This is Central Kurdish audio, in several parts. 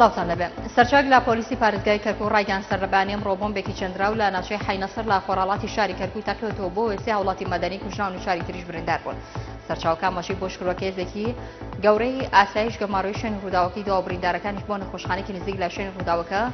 سڵاوتان لەبێ سەرچاک لە پۆلیسی پارێزگای کەرکو ڕایگەیان سەرلەبانی ئەمڕۆ بۆمبێکی چەندراو لە ناوچەی حینەسەر لە خۆراڵاتی شاری کەرکوی تەقێتەوە بۆ وێسی هاوڵاتی مەدەنی کوژراون و شاری تریش بریندار بوون سەرچاوکە مەشی بۆ شکروەکە هێزێکی گەورەی ئاسایش گەماڕۆی شوێن ڕووداوەکەی دوا بریندارەکانیش بۆ نەخۆشخانێکی نزیک لە شوێن ڕووداوەکە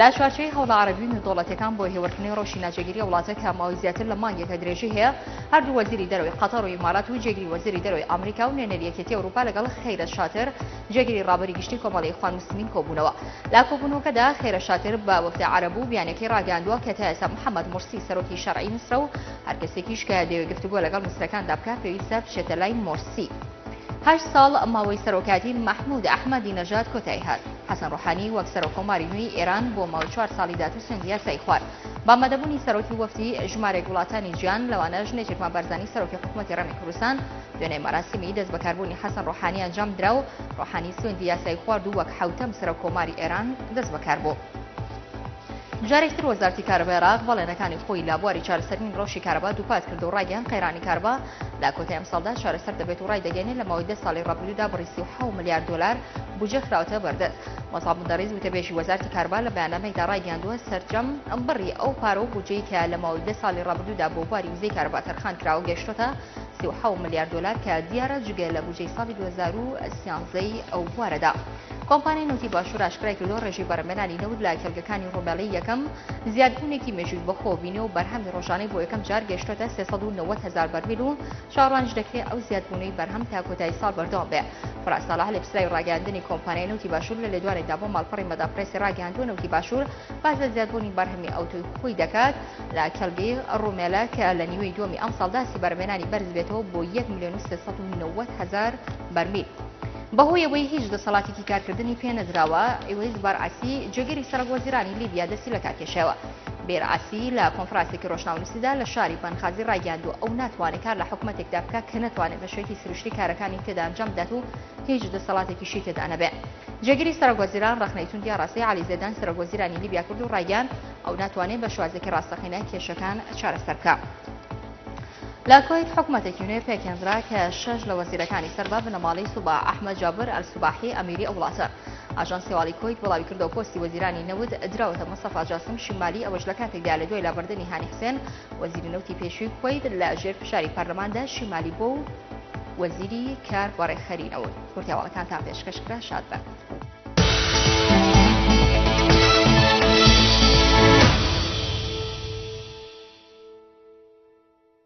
لە چوارچێوەی هەوڵە عەرەبی و نێودەوڵەتییەکان بۆ هێورکردنەوەی رەوشی ناجێگیری ئەو وڵاتە کە ماوەی زیاتر لە مانگێکە درێژەی هەیە، هەردوو وەزیری دەرەوەی قەتەر و ئیمارات و جێگری وەزیری دەرەوەی ئامریکا و نوێنەری یەکێتی ئەوروپا لەگەڵ خیرەت شاتر جێگری رابەری گشتی کۆمەڵی ئیخوان موسلمین کۆبوونەوە. لە کۆبوونەوەکەدا خیرەت شاتر بە وەفد عەرەب و بیانیەکەی راگەیاندووە کە تا ئێستا محەمەد مورسی سەرۆکی شەرعی میسرە و هەر کەسێکیش کە دەیەوێت گفتوگۆ لەگەڵ میسریەکاندا بکات پێویستە بچێتە لای مورسی. هەشت ساڵ ماوەی سەرۆکایەتی مەحمود ئەحمەدی نەژاد کۆتایی هات. حەسەن ڕۆحانی وەک سەرۆک کۆماری نوێی ئێران بۆ ماوەی چوار ساڵی دااتو سوێندی یاسایی خوارد بە ئامادەبوونی سەرۆکی وەفدی ژمارێک وڵاتانی جیان لەوانە ژنێ چێکما بارزانی سەرۆکی حکوومەتتی ڕێمی کوردستان دوێنێ مەراسیمی دەست بەکاربوونی حەسەن ڕۆحانی ئەنجام درا و ڕۆحانی سوێندی یاسایی خوارد و وەک حوتەم سەرۆک کۆماری ئێران دەست بەکار بوو. جارێکتر وەزارتی کارەبای عێراق بەڵێنەکانی خۆی لە بواری چارەسەرنی ڕەوشی کارەبا دووپات کرد و ڕاگەیان قەیرانی کارەبا لە کۆتای ئەمساڵدا چارەسەر دەبێت و ڕایدەگەێنێ لە ماوەی دە ساڵی ڕابردوودا بڕی 37 ملیار دۆلار بودجە خراوەتە بەردەست. مەسعەب مدەڕیس وتەبێژی وەزارتی کارەبا لە بەیاننامەیدا ڕایگەیاندووە، سەرجەم بڕی ئەو پارە و بودجەی کە لە ماوەی دە ساڵی ڕابردوودا بۆ بواری وزەی کارەبا تەرخان کراوە گەیشتۆتە سی و حەوت ملیار دۆلار کە دیارە جگە لە بودجەی ساڵی دوو هەزار و سیانزە ی ئەو بوارەدا کۆمپانیای نەوتی باشوور ئاشکرای کردووە ڕێژەی بەرهەمێنانی نەوت لە کێڵگەکانی ڕۆمێڵی یەکەم زیادبوونێکی مێژووی بەخۆوە بینی و بەرهەمی ڕۆژانەی بۆ یەکەم جار گەیشتۆتە سێ سەد و نەوەد هەزار بەرمیل و چاوەڕوانیش دەکرێت ئەو زیادبوونەی بەرهەم تا کۆتایی ساڵ بەردەوام بێ. فراس ساڵح لێپسراوی ڕاگەاندنی کۆمپانیای نەوتی باشوور لە لێدوانێکدا بۆ ماڵپەڕی مەدا پرێسی ڕاگەاندووە نەوتی باشوور باز لە زیادبوونی بەرهەمی ئەوتۆی خۆی دەکات لە کەلبی ڕومێلە کە لە نیوەی دووەمی ئەمساڵدا سیبەرمێنانی بەرز بێتەوە بۆ 1 میلیۆن 390 هزار بەرمیل. بەهۆیەوەی هیچ دەسەڵاتێکی کارکردنی پێنەدراوە ئیوەی زبار عسی جێگری سەرەک وەزیرانی لیبیا دەستی لەکارکێشاوە. بیر عەسی لە کۆنفراسێکی ڕۆژناونوسیدا لە شاری بەنخازی ڕایگەیاندووە ئەو ناتوانێت کار لە حکومەتێکدا بکە کە نەتوانێت بە شێوەیەکی سروشتی کارەکانی تێدا ئەنجام بدات و هیچ دەسەڵاتێکیشی تێدا نەبێ جێگیری سەرگۆزیران ڕخنەی توندیا ڕاستی علی زێدان سەرگۆزیرانی لیبیا کرد و ڕایگەیان ئەو ناتوانێت بە شوازێکی ڕاستەقینە کێشەکان چارەسەر بکە. لە کویت حکومەتێکی نوێ پێکهێنرا کە شەش لە وەزیرەکانی سەربە بنەماڵەی سوبا ئەحمە جابر ئەلسوباحی ئەمیری ئەو وڵاتە. ئاژانسی هەواڵی کوەیت بڵاویکردەوە پۆستی وەزیرانی نەوت دراوەتە مستەفا جاسم شمالی ئەوەش لە کاتێکدا لە دوای لابردنی هانی حسێن وەزیری نەوتی پێشووی کوەیت لە ژێر فشاری پەرلەماندا شمالی بۆ و وەزیری کار بەڕێکخەری نەوت کورتیاواڵەکان تا پێشکەش کرا شاد بن.